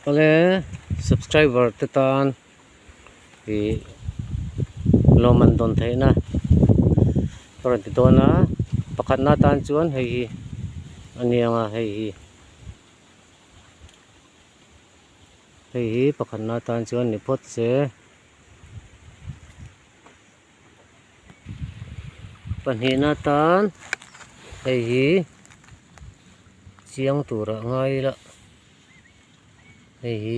Awle subscriber te tan ih lawm an dawn theih na ka rawn ti dawn a pakhat na tan chuan hei hi aniang a hei hi hei hi pakhat na tan chuan ni phawt se. Pahnihna atan hei hi chiang tura ngai ila hei hi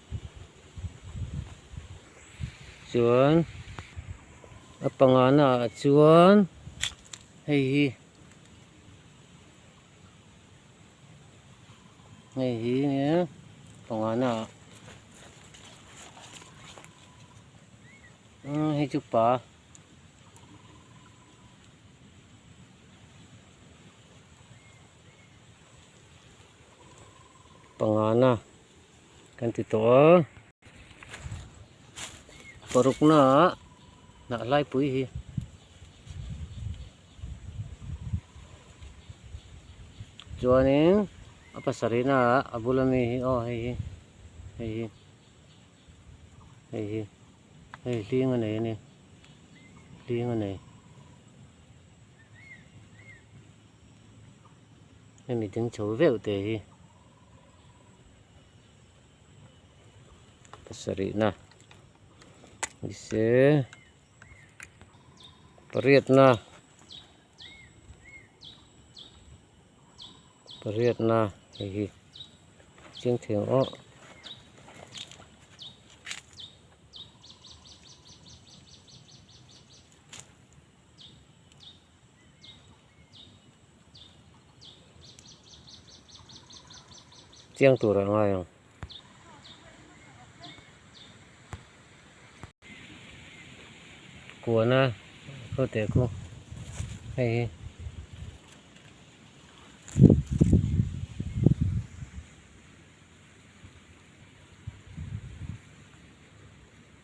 Chuan a pangana ah chuan hei hi hei hi nia pangana ah umm hei chu pa pangana. Kan ti tawh a, paruknaah hnahlaipui hi chuanin a pasarihnaah a bula mi hi aw hei hi, hei hi, hei hi, hei hling a nei a ni, hling a nei. Hemi ding chho veuh te hi. pasarihna ni se pariatna pariatna hei hi ching thei ang aw. Chiang tur ah ngai ang. Kuana khaw teh khaw hei hi.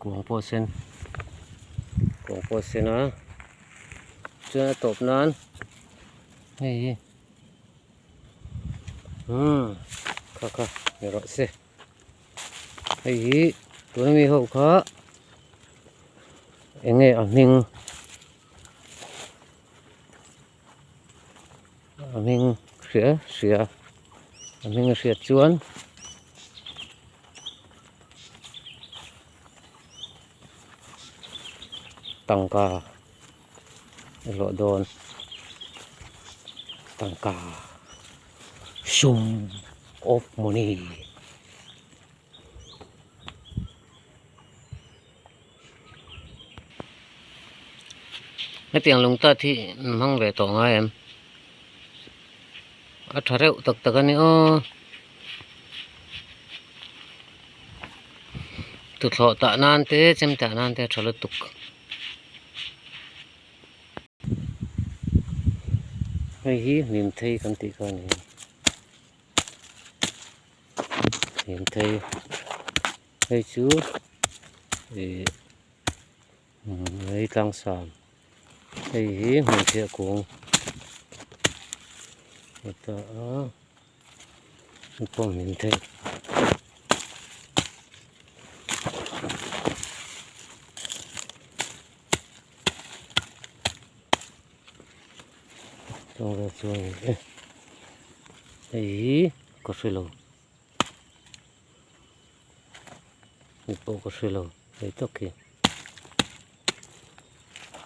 Kuang pawh a sen, kuang pawh a sen a, chuan a tawp nan hei hi umm kha kha ni rawh se, hei hi tuna mi ho kha eng nge a hming. a hming hria hria a hming hriat chuan tangka a hlawh dawn tangka hrum awp mawni. Hetiang lungtat hi min hmang ve tawh ngai em? A tha reuh tak tak a ni aw. Thuthhlawh tah nan te chem tah nan te a tha lutuk. Hei hi hnim thei kan tih kha a ni. Hnim thei. Hei chu ih Latlang Sam hei hi Hmeichhia kung a ta a an pawh min theih hei hi ka hre lo. Hei pawh ka hre lo hei tak hi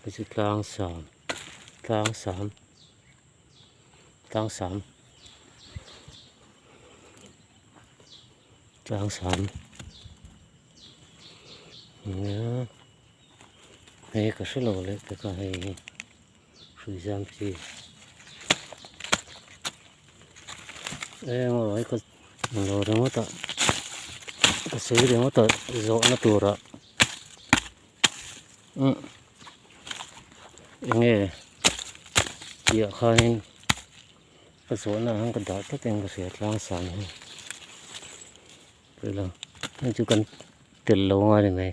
hei chu tlang sam tlang sam tlang sam tlang sam nia hei ka hre lo leh teka hei hi. Hrui zam chi eng awlai ka lo ringawt a ka sawi ringawt a zawhna tura umm enge tih ah khanin ka zawhna ah khan ka dah tlat in ka hria tlang sân hi tih lo hei chu kan tel lo nga ni mai.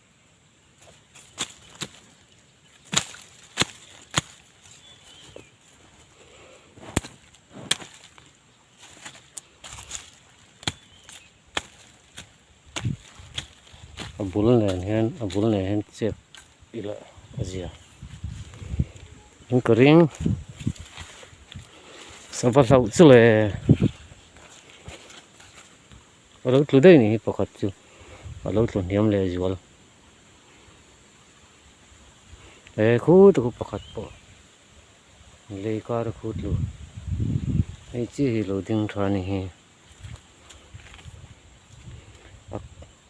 a bul nen hian a bul nen hian chep ila a zia in ka ring sava hlauh chuleh. A lo tlu daih nih hi pakhat chu a lo tlu hniam leh zual. He khu te khu pakhat pawh lei kara khu tlu hei chiah hi lo ding tha ni hi. A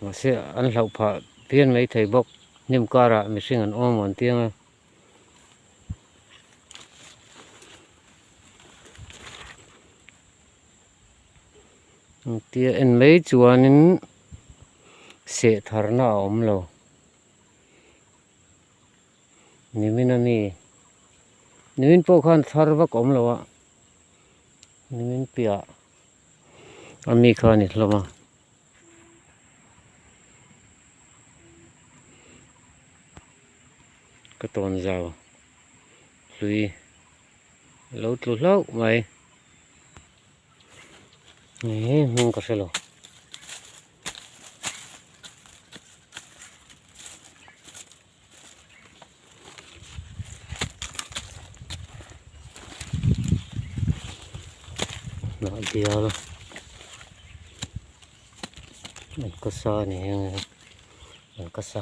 mahse an hlauh phah pian mai thei bawk hnim karah mihring an awm ang tiang a. Engtia en mai chuanin sehtharna a awm lo. Nimin a mi, nimin pawh khan thar vak awm lo a, nimin piah a mi kha a ni hlawm a. Ka tawnzau hlui. Lo tlu hlauh mai eeh hming ka hrelo hnah bial an ka sa a ni ang e an ka sa.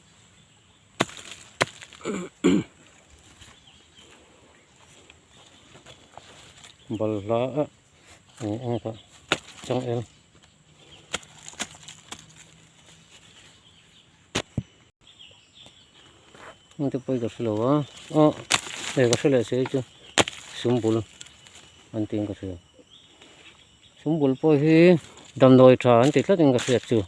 balhla a ni ang kha changel te pawh ka hre lo a a ka hre leh se chu sumbul an tih ang ka hria. Sumbul pawh hi damdawi tha an ti tlatin ka hriat chu.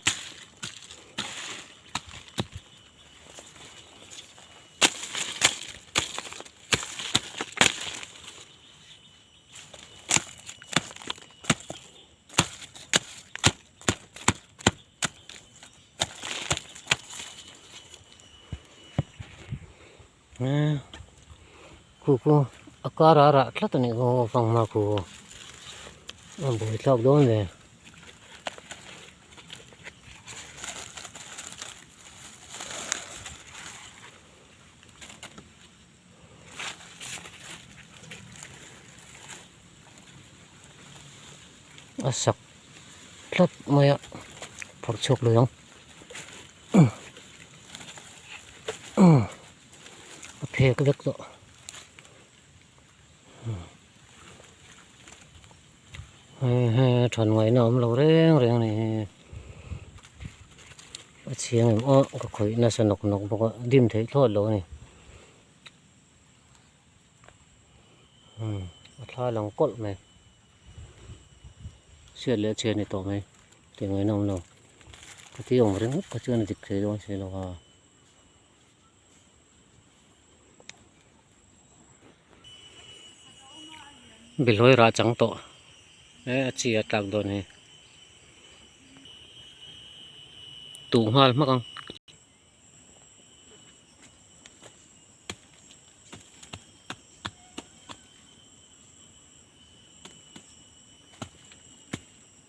Khu khu a kara rah tlat a nih kawng a fang hma khu a bawi thlak dawn ve a sak tlat mai a phawrh chhuak lo ang. a phek vek tawh hehe than ngaihna awm lo reng reng a ni hi a chhiang em awh ka khawih nasa nawk nawk bawk a dim theih thlawt lo a ni a thlai a lang kawlh mai a chhiat leh a chhiat ni tawh mai. Ti ngaiin a awm lo. Ka ti awm ringawt kha chuan a dik thei dawn si lo a. Bihlawih rah chang tawh e a chi a tlak dawn hi. Tuh nghal hmak ang.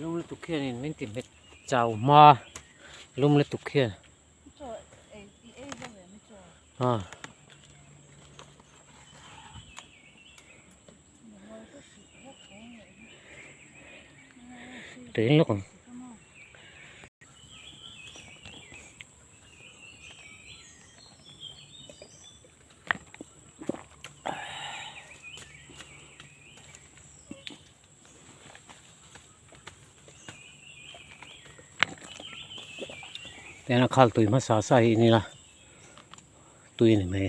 Lum lutuk hian in min ti hmet chau hma lum lutuk hian ha Tuin lawk ang Ena khal tui hmasa sa hi nila tui ni mai